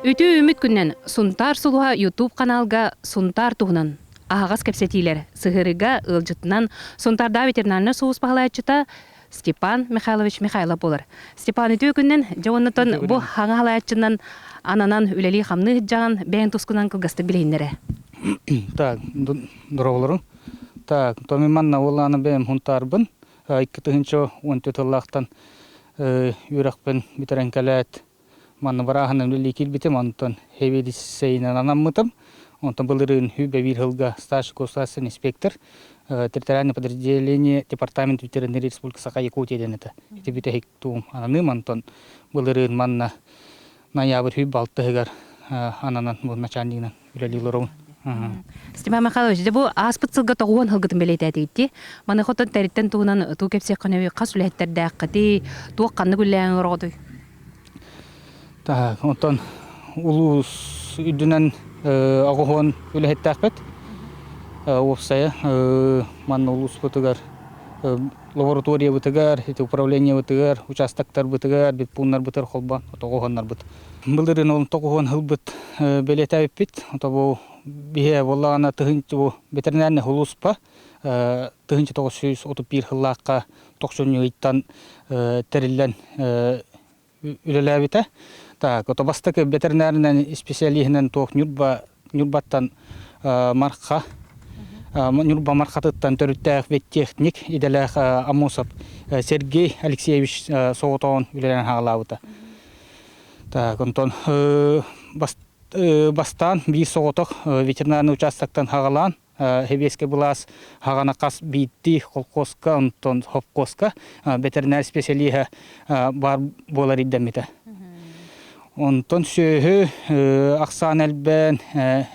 Үтүө-үүммүт күнүнэн Сунтаар сулуһа YouTube-ханаалга Сунтаар туһунан аһаҕас кэпсэтиилэр сыһыарыыга ыалдьытынан Сунтаардааҕы ветеринарнай сулус баһылааччыта Степан Михайлович Михайлов буолар. Степан үтүө күнүнэн дьэ уоннатан бу хаҥа халааччынан ананан үлэлии-хамныы сылдьаҕын бэйэҥ тускунан кылгастык билиһиннэрэ. Так, здороволору. Так, томи манна уолааны бэйэм хунтаарбын. Айкы тыһынча он тетыллаахтан үрэхпин битэрен кэлээт Манна бырааһынан үлэлии киирбитим, онтон хевиlisейынан анаммытым. Онтон былырыын Үбэ биир сылга старший государственный инспектор территориальное подразделение департамент ветеринарии республика Саха Якутия диэн этэ. Ити бүтэһик туум ананыым, онтон былырыын манна ноябрь үй балтыһыгар ананан, бу начальнигынан үлэлиилэрин Степан Михайлович, дьэ бу ааспыт сылга тоҕуон сылгытын бэлиэтээтигитти. Маны хотон тэриттэн туһунан туу кэпсиэххинэби хас үлэһиттэрдээххитий, туох ханнык үлэлээн орҕотуй? Таһа, онтон улуус үрдүнэн оҕуһуон үлэһиттээхпит. Уопсайа манна улууспутугар лабораториябытыгар, управлениебытыгар, участоктарбытыгар, бит пууннарбытыгар холбоон оҕуһуоннарбыт Былырыын он тоҕуһун һылбыт бэлиэтээбиппит. То бу биһиэхэ буоллаҕына тыһыынча бу ветеринарный хулууспа тыһыынча тоҕус сүүс отут биир сыллаахха тохсунньугуйтан тэриллэн үлэлээбитэ. Так, то бастакы ветеринарнай специалиһынан туох ньурба Ньурбаттан Марха, Ньурба Мархатыттан төрүттээх техник, идэлээх Амосов Сергей Алексеевич соҕотоҕун үлэлэрин хаалаабыта. Так, онтон бастаан биир соҕотох ветеринарный участоктан хаҕалаан Хэбиэскэ былаас хаҕана хас биирдии холкуоска, онтон хопкуоска бэтэринээр исписэлииһэ баар буолар ирдэммитэ. Онтон сүөһү, ахсаан элбээн,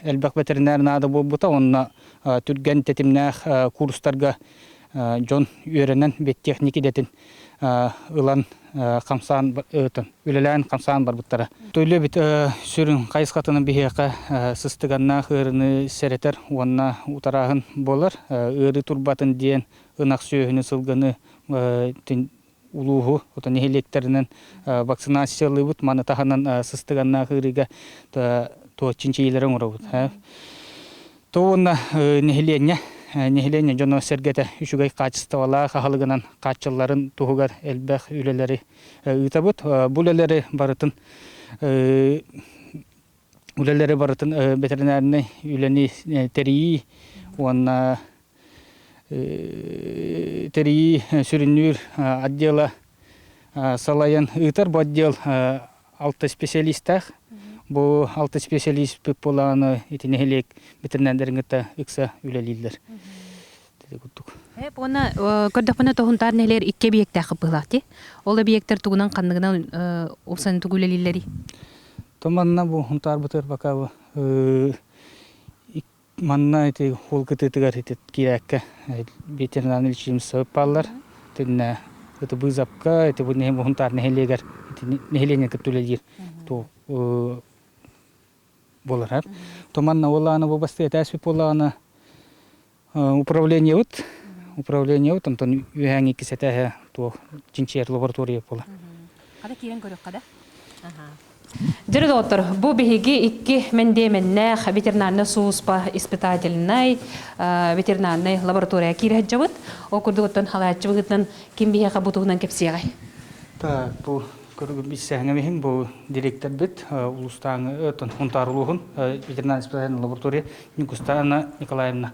элбэх бэтэринээр наада буолбута уонна түргэн тэтимнээх курстарга дьон үөрэнэн биотехник идэтин ылан хамсаан үлэлээн хамсаан барбыттара. Төлөбүт сүрүн хайысхатынан биһиэхэ сыстыганнаах ыарыыны сэрэтэр уонна утарааһын буолар. Ыарыы турбатын диэн ынах сүөһүнү сылгыны улууһу ото нэһилиэктэринэн вакцинациялыыбыт маны таһынан сыстыганнаах ыарыыга туох чинчийиилэри оҥоробут то уонна нэһилиэнньэ нэһилиэнньэ дьоно-сэргэтэ үчүгэй хаачыстыбалаах аһылыгынан хааччылларын туһугар элбэх үлэлэри ыытабыт бу үлэлэри барытын үлэлэри барытын ветеринарнай үлэни тэрийии уонна тэрийии сүрүннүүр отдела салайан ыытар бу отдел алта специалистаах бу алта специалист буолааны ити нэһилиэк ветеринардарын кытта ыкса үлэлииллэр уонна көрдөхпүнэ тоһунтаар нэһилиэр икки объектаах быһылаах ти ол объектар тугунан ханныгынан упсаны тугу үлэлииллэри то манна бу хунтаар бытыр пока Манна ити уол кытыытыгар ити киирээккэ ветеринарнай лечебнай бааллар. Итиннэ ити Быызапка, ити Уһунтаар нэһилиэгэр нэһилиэнньэ кытта үлэлиир буоларар. То манна ол аана бу бастыы этээспит буоллаҕына управлениебыт управлениебыт онтон үһээҥҥи иккис этээһэ то чинчийэр лаборатория буолар. Хата киирэн көрүөххэ да. Дөрү доҕоттор, бу биһиги икки мэндиэмэннээх ветеринарнай сулууспа испытательнай, ветеринарнай лаборатория киирһэджабыт. Ол курдук оттон халааччыбытынан ким биһиэхэ бу туһунан кэпсиэҕэй? Так, бу көрүгү билсэһиҥэмиһин бу директорбыт улуустааҥы өтөн хунтаар улууһун ветеринарный испытательный лаборатория Никустаана Николаевна.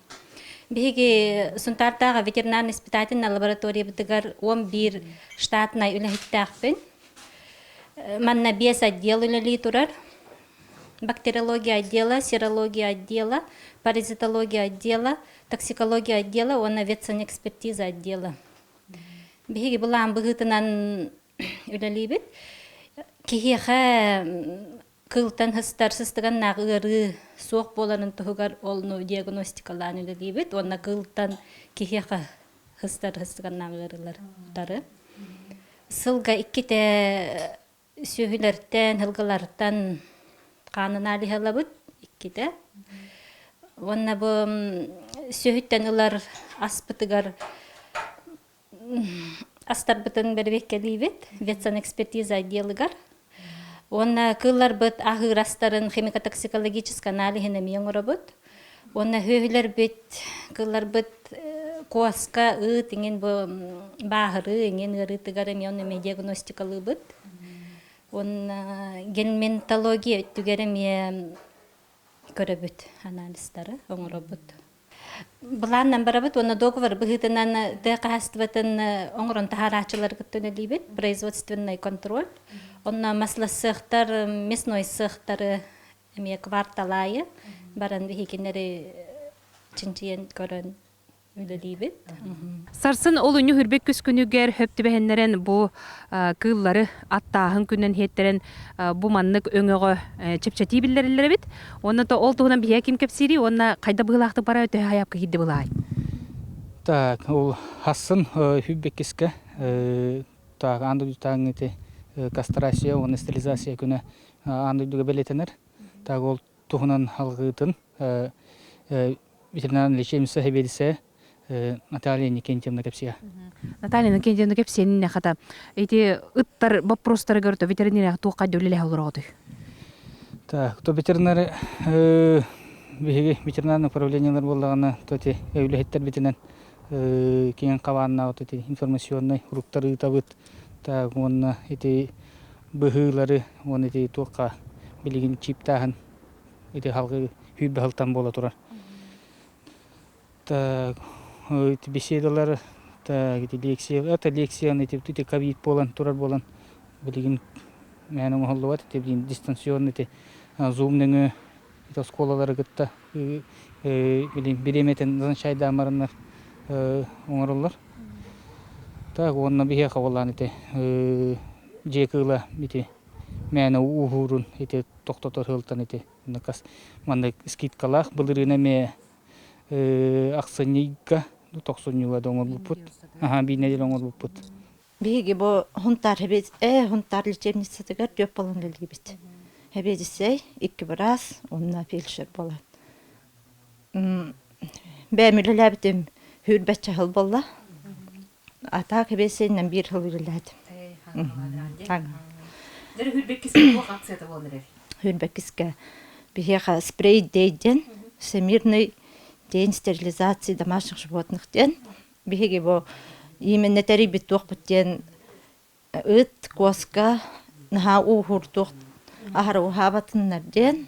Биһиги Сунтаартааҕы ветеринарнай испытательнай лабораториябытыгар он биир штатнай үлэһиттээхпин. Манна биэс отдел үлэлии турар. Бактериология отдела, серология отдела, паразитология отдела, токсикология отдела уонна ветсанэкспертиза отдела. Биһиги былаан быһыытынан үлэлиибит. Киһиэхэ кыылтан һыстар сыстыганнаах ыарыы суох буоларын туһугар ол ну диагностикалаан үлэлиибит уонна кыылтан киһиэхэ һыстар һыстыганнаах ыарыылар утары сылга иккитэ сүөһүлэртэн һылгылартан хаан аналиһалабыт иккитэ уонна бу сүөһүттэн ылар аспытыгар астарбытын бэрбиккэлиибит ветсанэкспертиза отделыгар уонна кыылларбыт аһыырастарын химико-токсикологический аналиһын эмиэ оҥоробут уонна сүөһүлэрбит кыылларбыт куоска ыт иҥин бу бааһырыы иҥин ыарыытыгар эмиэ ону эмиэ диагностикалыыбыт уонна генментология өттүгэр эмиэ көрөбүт анализтары оҥоробут Былааннан барабыт уонна договор быһыытынан тыа хаһаастыбатын оҥорон таһаарааччылары кытта үлэлиибит производственный контроль. Онно маслассыахтар, мясной сыахтары эмиэ кварталаайы баран биһикиннэри чинчийэн көрөн үлэлиибит. Сарсын ол үннү үрбүт күс күнүгэр хөп түбэһиннэрэн бу кыыллары аттааһын күнүнэн иһиттэрэн бу маннык өҥөҕө чэпчэтии биллэриллэр эбит. Уонна ол туһунан биһиги ким кэпсиирий уонна хайда быһылаахтык бара төһө хайапка киирди былаай? Так, ол хассын хүббеккиске так ан дойду таңыты кастрация уонна стерилизация күнэ ан дойдуга белетенер. Так ол туһунан алгытын ветеринарный лечебница хебедисе Наталья Никентьевна кэпсиэ. Наталья Иннокентьевна кэпсиэнин хата ити ыттар боппуруостарыгар то ветеринарияҕа туохха дьуллэлээх олороҕутуй? Так, то ветеринары биһиги ветеринарное управлениелар буоллаҕына то ити үлэһиттэрбитинэн киэҥ хабааннаах ити информационнай уруктар ыытабыт так уонна ити быһыылары уонна ити туохха билигин чииптааһын ити халҕы күүрбэ сылтан буола турар. беседалары это лекцияны ити ковид буолан турар буолан билигин мээнэ оҥоһуллубат ити билигин дистанционно ити зум нөҥүө ити оскуолалары кытта бириэмэтин назначайдаамарыннар оҥороллор так уонна биһиэхэ уоллаан ити дьиэ кыыла ити мээнэ ууһуурун ити тохтотор сыалтан ити маннык скидкалаах былырыына эмиэ Ахсынньыга тохсунньуга да оҥорбуппут. Аһа биир нэдиэлэ оҥорбуппут. Биһиги бу Хунтаар э Хунтаар лечебницатыгар түөрт балан кэлгибит. Эбиэдиссэй икки быраас уонна фельдшер буолан. Бэйэм үлэлээбитим, үүрбэт чаһыл буолла. Атаах хибиэссэйинэн биир сыл үлэлээтим. Эй, хаҥалаан, Дьэрэ хүрбэккискэ туох акцията буолан эрэр? Хүрбэккискэ биһиэхэ спрей дэй диэн всемирный день стерилизации домашних животных диэн биһиги бу иименнэ тэрийбит туохпут диэн ыт, куоска наһаа ууһуур туох аһары уһаабатыннар диэн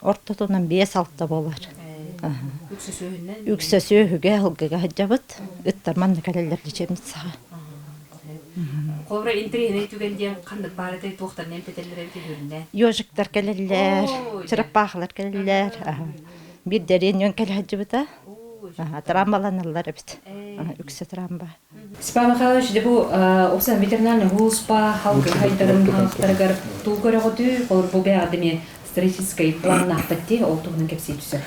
ортотунан биэс-алта буолар. Үксэ сүөһүгэ, алгыга сылдьабыт. Ыттар манна кэлэллэр дичэмит саҕа. Хобро интриһинэй түгэн диэн ханнык баар этэй туохтан эмтэтэллэр эбитин үрүннэ. Ёжиктар кэлэллэр, чыраппаахалар кэлэллэр. Биир дэриэн үөн кэлэ сылдьыбыта. Трамбаланаллар эбит. Үксэ трамба. Степан Михайлович, дьэ бу усан ветеринарный улууспа халгы хайдарын хаҥастарыгар туу көрөҕүтүй, холор бу бэҕэди эмиэ стратегическай планнаахпыт ти, ол туһунан кэпсииччи сөп.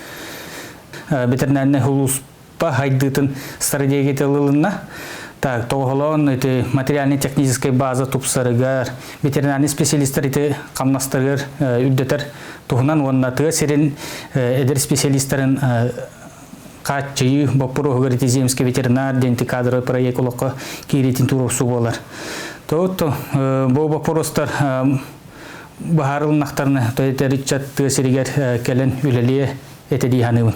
Ветеринарный улууспа хайдыытын стратегията ылылынна. Так, тоҕоһолоон ити материально-техническай база тупсарыгар, ветеринарный специалистар ити хамнастарыгар үрдэтэр туһунан уонна тыа сирин эдэр специалистарын хааччыйыы боппуруоһугар ити земский ветеринар диэн кадровый проект олоххо киириитин туруорсуу буолар. Тоҕут бу боппуруостар баһаарылыннахтарына ыччат тыа сиригэр кэлэн үлэлиэ эти дии саныыбын.